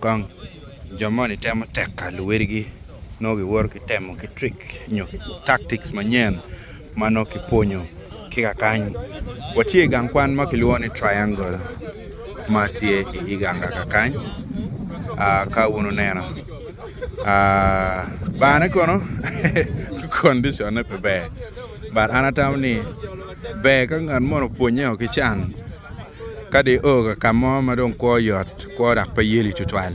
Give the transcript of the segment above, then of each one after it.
Kong. Jo moni temo tekka luwedigi nongo giwoto ki temo ki trick nyo tactics manyen ma nongo kipwonyo ki kakany. Watye i gang kwan ma kilwongo ni Triangle ma tye i Iganga kakany, ka wun wuneno. Barne kono conditionne pe ber but an atamo ni ber ka ngat moni opwonye o ki can. Ka dong io ka ka mo ma dong kwo yot, kwo dok pe yeli tutwal,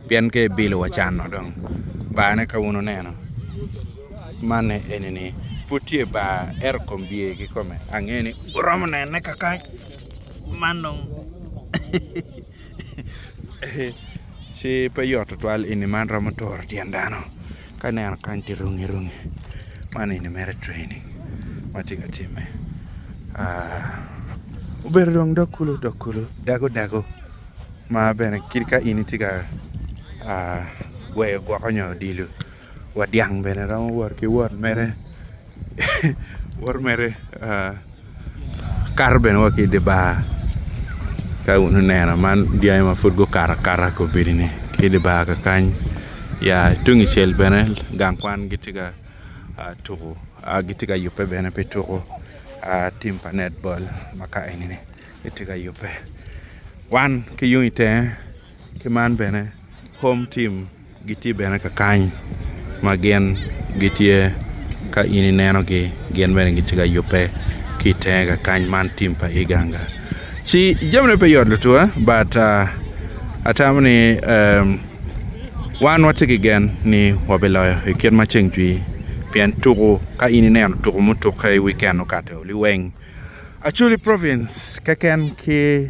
pien ka ibilo wa canno dong, barne ka wun wuneno, manne eni ni, pud tye bar, ento kombye kikome ange ni wuromo nene kakac, man dong. ci pe yot tutwal eni man romo turo tyen dano ka ineno kany tye rungi rungi man eni mere training ma tye ka timme obedo dong dog kulu dog kulu dago dago ma bene kit ka in itye ka gweyo gwoko nyo odilo. Wa dyang bene romo wot ki wot mere wot mere kato bene wa ki i dye bar ka wun oneno man dyangi ma pud gukato akata i kobedi ni ki i dye bar kakany ya tung i cel bene gang kwan gitye ka tuko gitye ka yubbe bene pi tuko tim pa net bol ma ka eni ni gitye ka yubbe wan ki yung i tenge Ki man bene, Home Team gitye bene ka kany ma gin gitye ka in inenogi, gin bene gitye ka yubbe ki i tenge ka kany man tim pa Iganga. Ci jamine pe yot lutuwa but atamo ni wan watye ki gen ni wabiloyo i kit ma ceng cwii pien tuku ka in ineno tuku mutukke i wiken okati-o liweng Acholi Province keken ki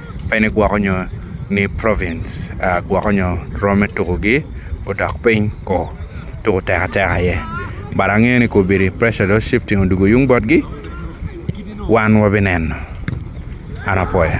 pe ni gwoko nyo ni province gwoko nyo romme tuko gi odok piny ko tuko tek atek aye but angeyo ni kobedi pressure dong shifting odwogo yung botgi wan wabineno an apuoyo.